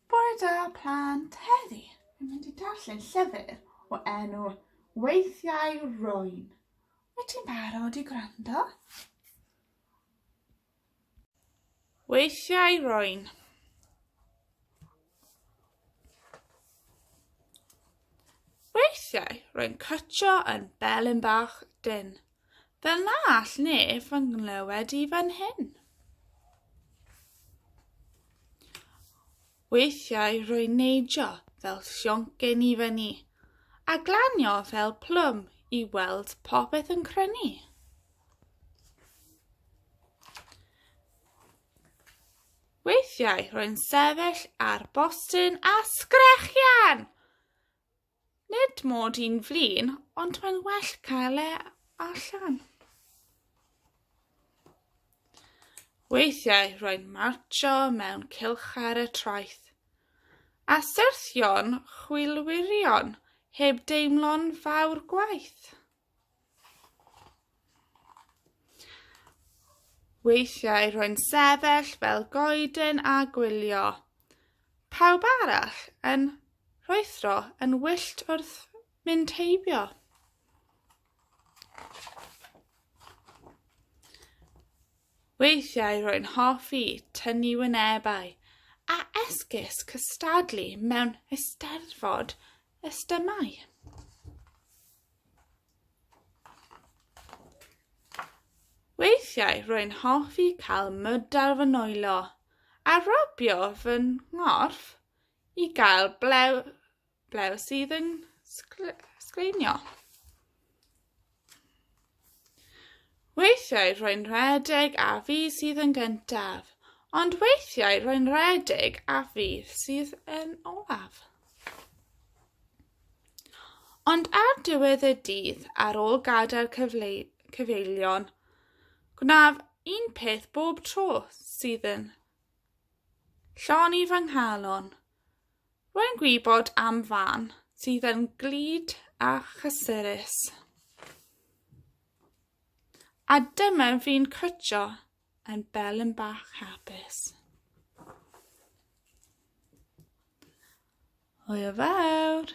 Bore da plant, heddi fi'n mynd i darllen llyfr o enw Weithiau Rwyn. Wyt ti'n barod i gwrando? Weithiau Rwyn. Weithiau, rwy'n cytio yn belyn bach dyn, fel na all neb fy nghlywed i fan hyn. Weithiau rwy'n neidio fel sioncyn i fyny, a glanio fel plwm i weld popeth yn crynu. Weithiau rwy'n sefyll ar bostyn a sgrechian! Nid mod i'n flin, ond mae'n well cael e allan. Weithiau rwy'n marcho mewn cilch ar y traeth, a syrthio'n chwilwirion heb deimlo'n fawr gwaith. Weithiau rwy'n sefyll fel goeden a gwylio. Pawb arall yn rhoethro yn wyllt wrth mynd heibio. Weithiau rwy'n hoffi tynnu wynebau a esgus cystadlu mewn ysteddfod ystymau. Weithiau rwy'n hoffi cael mud ar fy nwylo a rwbio fy nghorff i gael blew, blew sydd yn sgleinio. Weithiau rwy'n rhedeg a fi sydd yn gyntaf, ond weithiau rwy'n rhedeg a fi sydd yn olaf. Ond ar diwedd y dydd, ar ôl gadael cyfeillion, gwnaf un peth bob tro sydd yn llon i fy nghalon. Rwy'n gwybod am fan sydd yn glyd a chysurus. A dyma fi'n cwtio yn bel yn bach hapus. Hwyl fawr!